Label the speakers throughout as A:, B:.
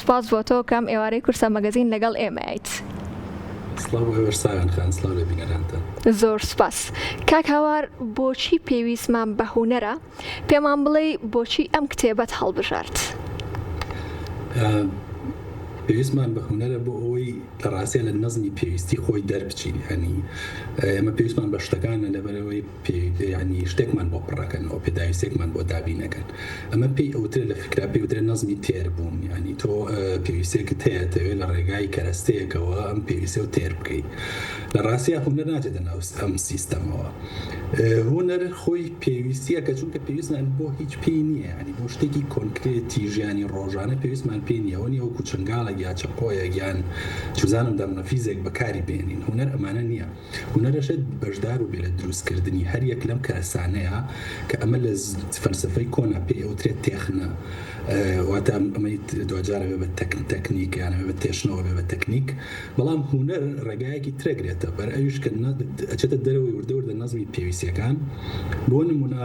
A: سپاس بۆ تۆ کەم ئێوارەی کورسە مەگەزین لەگەڵ ئێمەیت. سڵاو بۆ ئێوەش ساغن خان سڵاو لە بینەرانتان. زۆر سوپاس کاک هاوار بۆچی پێویستمان بە هونەرە پێمان بڵێی بۆچی ئەم کتێبەت هەڵبژارد؟
B: پێویستمان بە هونەرە بۆ ئەوەی لە ڕاستە لە نەزمی پێویستی خۆی دەربچین هەنی ئێمە پێویستمان بە شتەکانە لەبەرەوەی پێویتە یەعنی شتێکمان بۆ پڕەکەنەوە، پێداویستێکمان بۆ دابین ئەکەن. ئەمە پێی ئەوترێ لە فیکرا پێی ئەوترێ نەزمی تێربوون، یەعنی تۆ پێویستێکت هەیە ئەتەوێ لە ڕێگای کەرەستەیەکەوە ئەم پێویستەو تێر بکەی. لە ڕاستیا هونەر ناچێتە ناو ئەم سیستەمەوە. هونەر خۆی پێویستییەکە چونکە پێویستمان بۆ هیچ پێی نییە، یەعنی بۆ شتێکی کۆنکرێتی ژیانی ڕۆژانە پێویستمان پێی نییە. ئەوە نییە وەکو چنگاڵێک یا چەقۆیەک یان چزانم دەڕنەفیزێک بەکاری بێنین. هونەر ئەمانە نییە. هونەرەشت بەشدار بێ لە دروست کردنی هەر یەک لەم کەرەسانەیە کە ئەمە لە فەلسەفەی کۆنا پێی ئەوترێت تێخنە واتە ئەمەی دواجارە بێ بە تەکن تەکنیک یانە بێ بە تێشنەوە بێ بە تەکنیک بەڵام هونەر ڕێگایەکی ترەگرێتە بەر ئەویش کە ئەچێتە دەرەوەی وردە وردە نەزمی پێویستیەکان بۆ نمونە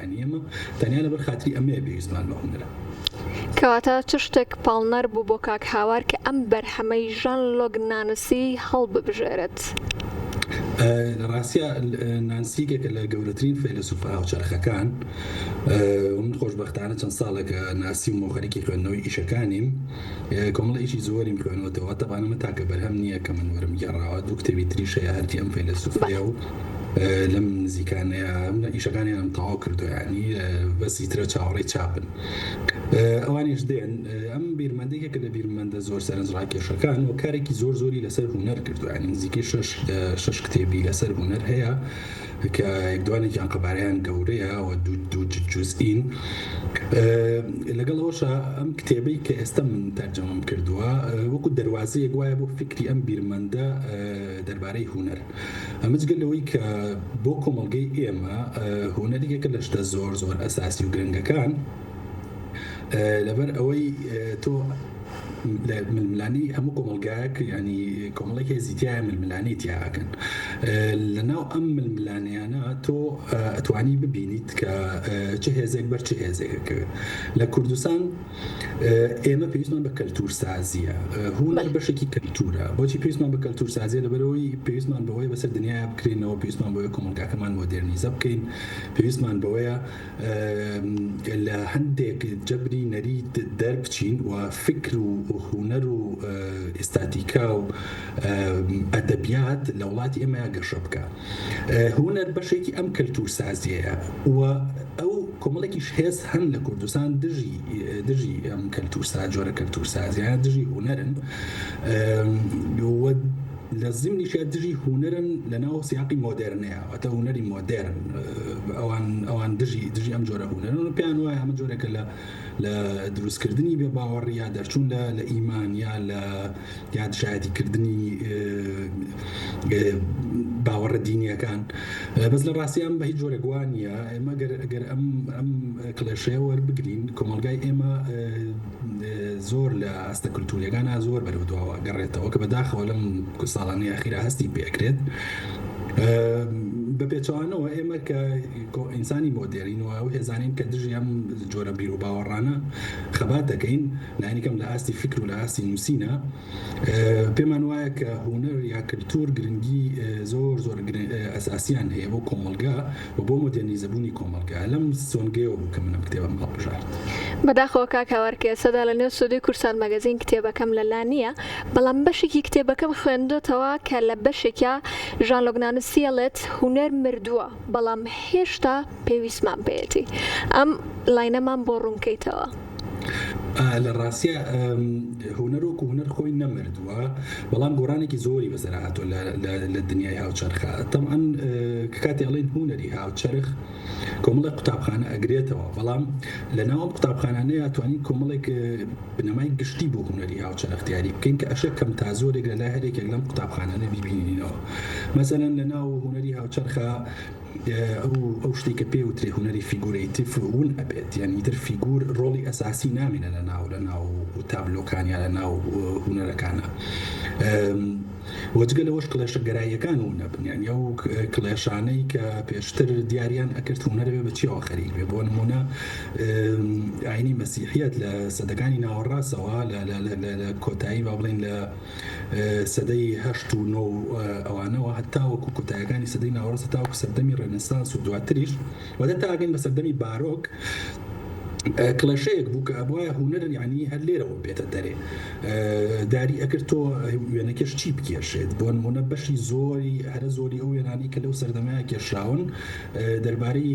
B: یانی ئێمە تەنیا لەبەر خاتری ئەمەیە پێویستمان بە هونەرە. کەواتە
A: چ شتێک پاڵنەر بوو بۆ کاک هاوار کە ئەم بەرهەمەی ژان لۆک نانسی هەڵببژێرێت؟
B: لە ڕاستیا نانسی یەکێکە لە گەورەترین فەیلەسوفە هاوچەرخەکان و من خۆشبەختانە چەند ساڵێکە ناسیومە و خەریکی خوێندنەوەی ئیشەکانیم، کۆمەڵەیەکی زۆریم خوێنوەتەوە تەبان ئەمە تاکە بەرهەم نییە کە من وەرم گێڕاوە دوو کتێبی تریش هەیە هەردی ئەم فەیلەسوفەیە و لەم نزیکانەیە منە ئیشەکانیانم تەواو کردو ینی بەسی ترە چاوەڕێی چاپن ئەوانیش دێن ئەم بیرمەندێکێکە لە بیرمەندە زۆر سەرنج ڕاکێشەکان و کارێکی زۆر زۆری لەسەر هوەر کردوانی نزیکەی شش کتێبی لەسەر هوەر هەیە کە دوانێکیان قەبارەیان گەورەیە و دوو جوزئین لەگەڵ ئەوەشە ئەم کتێبەی کە ئێستا من تەرجەمەم کردووە وەکو دەواازەیە گوایە بۆ فکری ئەم بیرمەندە دەربارەی هوەر ئەمەجگە لەوەی کە بۆ کۆمەلگەی ئێمە هوەریەکە لە شتە زۆر زۆر ئەساسی و گرنگەکان لەبەر ئەوەی تۆ لە ململانی هەموو کۆمەلگایەک ینی کۆمەڵی هێزی تایە ململانی تیاکەن لە ناو ئەم ململانیانە تۆ ئەتوانی ببینیت کە چه هێزێک بەر چ هێزێکەکەوێت لە کوردستان ئێمە پێویستمان بە کەلتور سازیە هوەر بەشێکی کەلتورە بۆچی پێویستمان بە کەلتور سازیە لەبەرەوەی پێویستمان بەوەی بەسەر دنیا بکرێنەوە پێویستمان بۆیە کۆمەلگاکەمان مۆدررنیزە بکەین پێویستمان بەوەیە لە هەندێک جەبری نەریت دەربچین و فکر و هونەر و ئیستاتیکا و ئەدەبیات لە وڵاتی ئێمەیا گەشە بکە هونەر بەشێکی ئەم کەلتور سازیەیە و ئەو کۆمەڵێکیش هێز هەن لە کوردستان دژی دژی ئەم کەلتور سا جۆرە کەلتور سازیان دژی هونەرن لە زمنیشە دژی هونەرن لە ناو سیاقی مۆدررنەیە واتە هونەری مۆدێرن ئەوان ئەوان دژی دژی ئەم جۆرە هونەرن پێیان وایە ئەمە جۆرێکە لە لە دروستکردنی بێ باوەڕ یا دەرچوون لە لە ئیمان یا لە یا دژایەتیکردنی باوەڕە دینیەکان بەس لە ڕاستیان بە هیچ جۆرە گووانە ئێمە گەر ئەگەر ئەم ئەم کلێشەیە وەربگرین کۆمەلگای ئێمە زۆر لە ئاستە کللتوریەکان زۆر بەرەو دواوە گەڕێتەوە کە بەداخەوە لەم ساڵانی ئاخیرا هەستی پێکرێت بە پێچوانەوە ئێمە کە ئینسانی مۆدێرین و ئەو هێزانین کە دژی ئەم جۆرە بیر و باوەڕانە خەبات دەکەین لانیکەم لە ئاستی فکر و لە ئاستی نووسینە پێمان وایە کە هونەر یا کلتور گرنگی زۆر زۆر ئەساسیان هەیە بۆ کۆمەلگا و بۆ مۆدێنیزە بوونی کۆمەلگا لەم سۆنگەیەوە بوو کە منم کتێبم هەڵبژارد. بەداخەوە کاک
A: هاوار کە ئێستادا لە نێو سۆدەی کورسان مەگەزین کتێبەکەم لە لا نییە، بەڵام بەشێکی کتێبەکەم خوێندۆتەوە کە لە بەشێکیا ژان لۆک نانسی ئەڵێت هونەر مردووە بەڵام هێشتا پێویستمان پێیەتی. ئەم لاینەمان بۆ ڕوونکەیتەوە.
B: لە ڕاستە هونەر وەکو هونەر خۆی نەمردووە بەڵام گۆرانێکی زۆری بەسەر هاتۆ لە دنیای هاوچەرخە تەمان کاتی ئەڵێن هونەری هاوچەرخ کۆمەڵە قوتابخانە ئەگرێتەوە بەڵام لە ناوم قوتابخانانەیە توانین کۆمەڵێک بنەمای گشتی بۆ هونەری هاوچەرخ دیاری بکەین کە ئەشە کەم تا زۆرێک لە لای هەرێکێک لەم قوتابخانانە بیبینینەوە مەسەەن لە ناو هونەری هاوچەرخە ئەو شتەی کە پێ وترێ هونەری فیگورەیتیف ون ئەبێت یانی ئیتر فیگور ڕۆڵی ئەساسی نامێنە لە ناو لە ناو تابلۆکان یا لە ناو هونەرەکانە وەجگە لەوەش کلێشە گەراییەکان و نەبن یان ئەو کلێشانەی کە پێشتر دیاریان ئەکرد هونەرەوێ بە چیەوە خەریک بێ بۆ نمونە ئاینی مەسیحیت لە سەدەکانی ناوەڕاستەوە لە کۆتایی با بڵین لە سەدەی هەشت و نۆ و ئەوانەوە هەتاوەکو کۆتایەکانی سەدەی ناوەڕاست هەتاوەکو سەردەمی ڕێنسانس و دواتریش و دەتاگەین بە سەردەمی بارۆک کڵێشەیەک بوو کە ئەبواە هوەر یعنی هەر لێرەوە بێتە دەرێ داری ئەکرد تۆ وێنەکەش چی بکێشێت بۆ نمونە بەشی زۆری هەرە زۆری ئەو وێنانی کە لەو سەردەمەیە کێشراون دەربارەی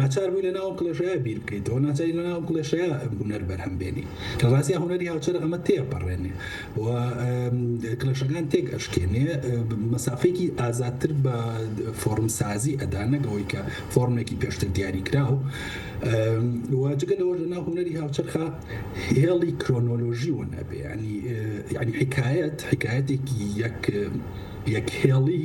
B: ناچار بووی لەناو ئەم کڵێشەیە بیر بکەیتەوە، ناچاری لەناو ئەم کڵێشەیە هونەر بەرهەم بێنی. لە ڕاستیا هونەری هاوچەرخ ئەمە تێئەپەڕێنێ و کڵێشەکان تێک ئەشکێنێ، مەسافەیەکی ئازادتر بە فۆڕمسازی ئەدا نەک ئەوەی کە فۆڕمێکی پێشتر دیاریکراو و جگە لەوەش لەناو هونەری هاوچەرخا هێڵی کرۆنۆلۆژی ون ئەبێ یانی یانی حیکایەت حیکایەتێکی یەک یەک هێڵی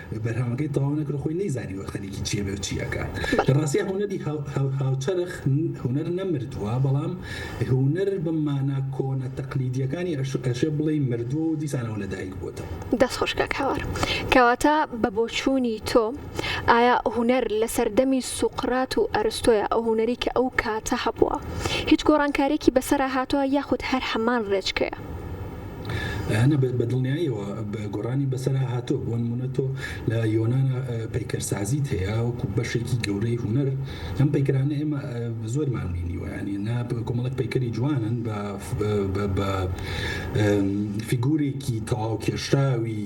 B: بەرهەمەکەی تەواو نەکرد خۆی نەیزانیوە خەریکی چیە بێ چی ئەکا لە ڕاستیا هونەری هاوچەرخ هونەر نەمردووە بەڵام هونەر بە مانا کۆنە تەقلیدیەکانی ئەشێ بڵێ مردووە و دیسانەوە لەدایک بووەوە دەست خۆش کاک هاوار
A: کەواتە بە بۆچوونی تۆ ئایا هونەر لە سەردەمی سوقرات و ئەرستۆیە ئەو هونەری کە ئەو کاتە هەبووە هیچ گۆڕانکارێکی بەسەرا هاتووە یاخود هەر هەمان ڕێچکەیە؟
B: هەنە بە دڵنیایەوە گۆڕانی بەسەرا هاتووە بۆ نمونە تۆ لە یۆنانا پەیکەرسازیت هەیە وەکو بەشێکی گەورەی هوەر ئەم پەیکرانە ئێمە زۆرمان بینیوەیانی نا کۆمەڵک پەیکەری جوانن بە فیگورێکی تەواو کێشراوی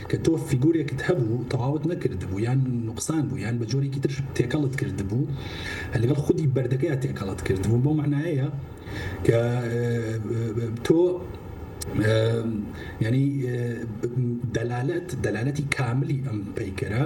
B: کە تۆ فیگورێکت هەبوو و تەواوت نەکردبوو یان نوقسان بوو یان بە جۆرێکی تر تێکەڵت کردبوو لەگەڵ خودی بەردەکەیا تێکەڵت کردبوو بەو مەعنایەیە کە تۆ یانی دەلالەت دەلالەتی کاملی ئەم پەیکەرە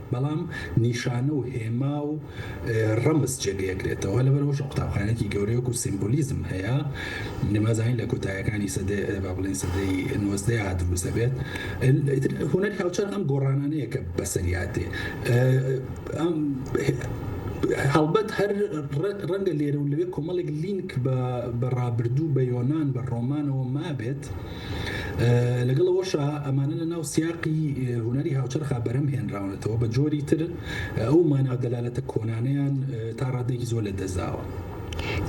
B: بەڵام نیشانە و هێما و ڕەمز جێدەگرێتەوە، لەبەرئەوەش قوتابخانەیەکی گەورەی وەکوو سیمبولیزم هەیە، نەمازانی لە کۆتایەکانی سەدەی با بڵێن سەدەی نۆزدەیا دروست دەبێت، ئیتر هونەری هاوچەرخ ئەم گۆڕانانەیە کە بەسەریا دێ ئەم هەڵبەت هەر ڕەنگە لێرە و لەوێ کۆمەڵێک لینک بە ڕابردوو بە یۆنان بە ڕۆمانەوە مابێت، لەگەڵ ئەوەشا ئەمانە لە ناو سیاقی هونەری هاوچەرخا بەرەم هێنراونەتەوە بە جۆری تر ئەو ماناو دەلالەتە کۆنانیان تا ڕادێکی زۆر لە دەزاوە.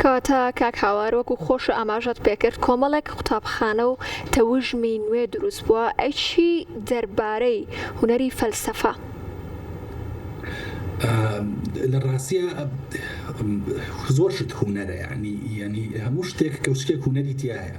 B: کەواتە
A: کاک هاوار وەکو خۆشە ئاماژەت پێکرد کۆمەڵێک قوتابخانە و تەوژمی نوێ دروست بووە ئەی چی دەربارەی هونەری فەلسەفە؟
B: لە ڕاستیا زۆر شت هونەرە یانی یانی هەموو شتێک کەوچکێک هونەری تیایە.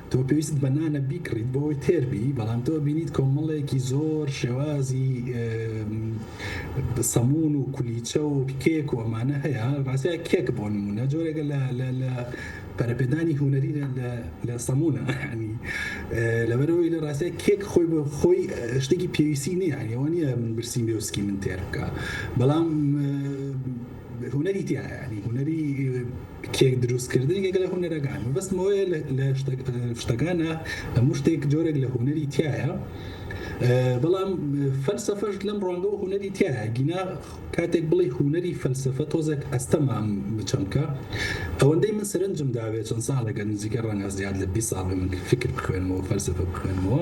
B: تۆ پێویستت بە نانە بیکڕیت بۆ ئەوەی تێر بی بەڵام تۆ ئەبینیت کۆمەڵێکی زۆر شێوازی سەمون و کولیچە و کێک و ئەمانە هەیە ڕاستە کێک بۆ نمونە جۆرێکە لە پەرپێدانی هوەری لە سەمونە ینی لەبەرەوەی لە ڕاستە کێک خۆی بۆ خۆی شتێکی پێویستی نییە ئەوە نیە من برسیم بێوسکی من تێر بکە بەڵام هونەری تیا هەیە یانی هونەری کێک دروست کردن یەکە لە هونەرەکان مەبەستم ئەوەیە لە شتەکانە هەموو شتێک جۆرێک لە هونەری تایە بەڵام فەلسفەش لەم ڕوانگە و هونەری تایە گینا کاتێک بڵی هونەری فەلسفە تۆزێک ئەستەمام بچەمکە ئەوەندەی من سەرنجم داوێت چەند ساڵێکە نزیکە ڕەنگە زیاد لە 20 ساڵ من فکر بخوێنمەوە فەلسفە بخوێنمەوە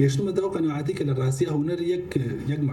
B: گەشتمە داو قەنەعاتی کە لە ڕاستیا هونەر یەک یەک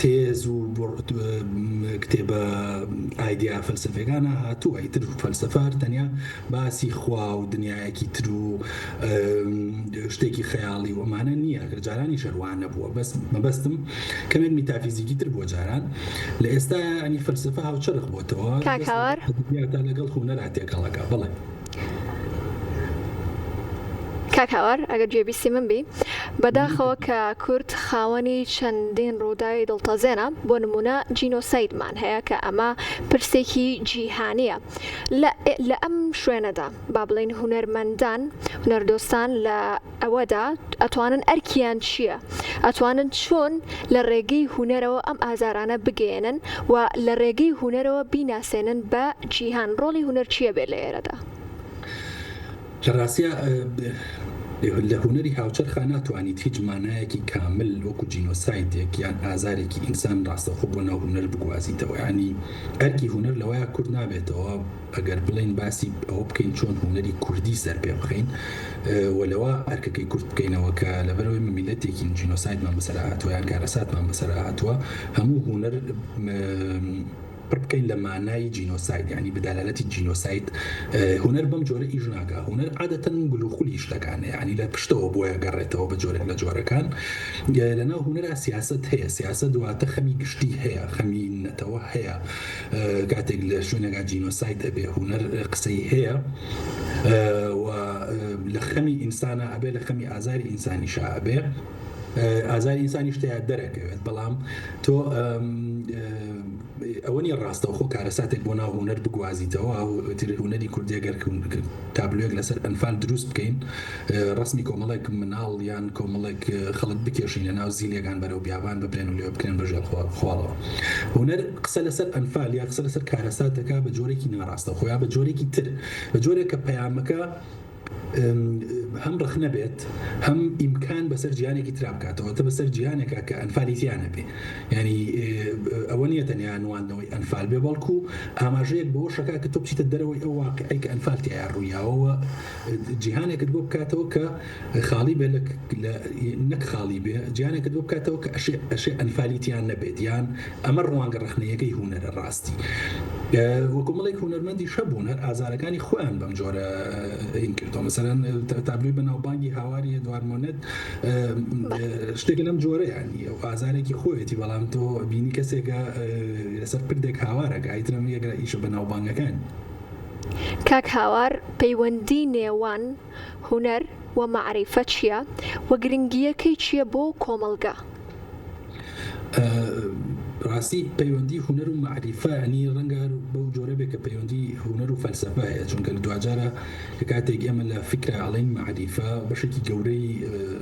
B: تێز و بوعد کتێبە ئایدیا فەلسەفیەکانە هاتووە ئیتر فەلسەفە هەر تەنیا باسی خوا و دنیایەکی تر و شتێکی خەیاڵی و ئەمانە نییە کە جارانی شەروانە بووە بەس مەبەستم کەمێک میتافیزیکی تر بووە جاران لە ئێستا ینی فەلسەفە هاوچەرخ بۆتەوە کاکاوار
A: لەگەڵ
B: هونەرا تێکەڵەکە بڵێ
A: کاک هاوار ئەگەر گوێبیستی من بی بەداخەوە کە کورد خاوەنی چەندین ڕووداوی دڵتەزێنە بۆ نمونە جینۆسایدمان هەیە کە ئەمە پرسێکی جیهانیە لە ئەم شوێنەدا با بڵین هونەرمەندان هونەردۆستان لە ئەوەدا ئەتوانن ئەرکیان چیە ئەتوانن چۆن لە ڕێگەی هونەرەوە ئەم ئازارانە بگەیەنن و لە ڕێگەی هونەرەوە بیناسێنن بە جیهان ڕۆڵی هونەر چیە بێ لە ئێرەدا؟
B: لە ڕاستیا لە هونەری هاوچەرخا ناتوانیت هیچ مانایەکی کامل وەکو جینۆسایدێک یان ئازارێکی ئینسان ڕاستەوخۆ بۆ ناو هونەر بگوازیتەوە یانی ئەرکی هونەر لەوەیە کورت نابێتەوە ئەگەر بڵێین باسی ئەوە بکەین چۆن هونەری کوردی سەر پێ بخەین و لەوە ئەرکەکەی کورت بکەینەوە کە لەبەرەوەی من میلەتێکین جینۆسایدمان بەسەرا هاتووە یان کارەساتمان بەسەرا هاتووە هەموو هونەر پڕ بکەین لە مانای جینۆساید ینی بدالالەتی جینۆساید هونەر بەم جۆرە ئیش ناکە هونەر عادەتەن گلوخلی شتەکانە ینی لە پشتەوە بۆیە گەڕێتەوە بە جۆرێک لە جۆرەکان لەناو هونەرا سیاست هەیە سیاست دواتە خەمی گشتی هەیە خەمی نەتەوە هەیە کاتێک لە شوێنێکا جینۆساید ئەبێ هونەر قسەی هەیە و لە خەمی ئینسانە ئەبێ لە خەمی ئازاری ئینسانی شا ئەبێ ئازاری ئینسانی شتەیە دەرەکەوێت بەڵام تۆ ئەوە نیە ڕاستەوخۆ کارەساتێک بۆ ناو هوەر بگوازیتەوە ئەو هوەری کوردێگەر تابلوێک لەسەر ئەنفال دروست بکەین ڕەسمی کۆمەڵێک مناڵ یان کۆمەڵێک خەڵک بکێشینە ناو زینێک هان بەرەو بیابان ببرێن و لەوێ بکرێن بە ژێر خواڵەوە. هونەر قسە لەسەر ئەنفال یا قسە لەسەر کارەسات دەکا بە جۆرێکی ناڕاستەوخۆ یا بە جۆرێکی تر بە جۆرێک کە پەیامەکە هەم ڕەخنە بێت هەم ئیمکان بەسەر جیهانێکی ترا بکات واتە بەسەر جیهانێکا کە ئەنفالی تیا نەبێ یانی ئەوە نیە تەنیا نواندنەوەی ئەنفال بێ بەڵکوو ئاماژەیەک بەوەش دەکا کە تۆ بچیتە دەرەوەی ئەو واقیعەی کە ئەنفال تیایا ڕوویاوە و جیهانێکت بۆ بکاتەوە کە خاڵی بێ لە نەک خاڵی بێ جیانێکت بۆ بکاتەوە کە ئەشێ ئەشێ ئەنفالی تیان نەبێت یان ئەمە ڕوانگە ڕخنەیەەکەی هوەرە ڕاستی وەکومەڵێک هوەرمەندی شەبوون هەر ئازارەکانی خۆیان بەم جۆرە کردۆ مەسەرەن تابلوی بەناوبانگی هاواری دوارمۆنێت شتێک لەم جۆرەیان نیە و ئازارێکی خۆیەتی بەڵام تۆ بینی کەسێکە لەسەر پردێک هاوارەکە ئیترم یەکە ئیشە بەناوبانگەکان
A: کاک هاوار پەیوەندی نێوان هونەر و مەعریفە چیە و گرنگیەکەی چیە بۆ کۆمەڵگا؟
B: بەڕاستی پەیوەندی هونەر و مەعریفە یانی ڕەنگە هەر بەو جۆرە بێ کە پەیوەندی هونەر و فەلسەفە هەیە چونکە لە دواجارە کە کاتێک ئێمە لە فیکرە ئەڵێن مەعریفە بەشێکی گەورەی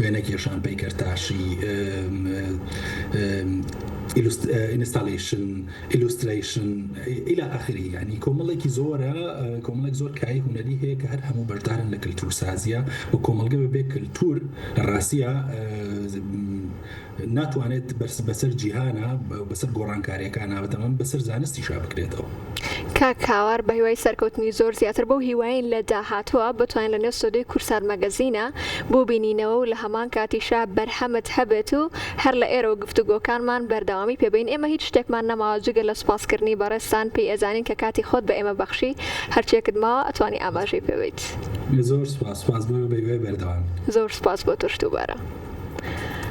B: وێنە کێشان، پەیکەرتاشی، ئینستاڵەیشن، ئیلوسترەیشن. ئیلا ئاخری یانی کۆمەڵێکی زۆرە کۆمەڵێک زۆر کای هونەری هەیە کە هەر هەموو بەشدارن لە کللتور سازیە و کۆمەڵگە بەبێ کللتور لە ڕاستیە ناتوانێت بەرس بەسەر جیهانا بەسەر گۆڕانکاریەکانا بەتەمام بەسەر زانستیشا بکرێتەوە. کاک
A: هاوار بەهیوای سەرکەوتنی زۆر زیاتر بەو هیوایەین لە داهاتووە بتوانین لەنێو سۆدەی کورسار مەگەزینە بوبینینەوە و لەهەمان کاتیشا بەرهەمت هەبێت و هەر لە ئێرەوە گفتوگۆکانمان بەردەوامی پێ بەین ئێمە هیچ شتێکمان نەماوە جگە لە سوپاسکردنی بەڕێزتان پێی ئەزانین کە کاتی خۆت بە ئێمە بەخشی هەرچیەکت ماوە ئەتوانی ئاماژەی پێ بەیت. زۆر سوپاس
B: سوپاس بۆ ئێوە
A: بەهیوای
B: بەردەوامی.
A: زۆر سوپاس بۆ
B: تۆش دووبارە.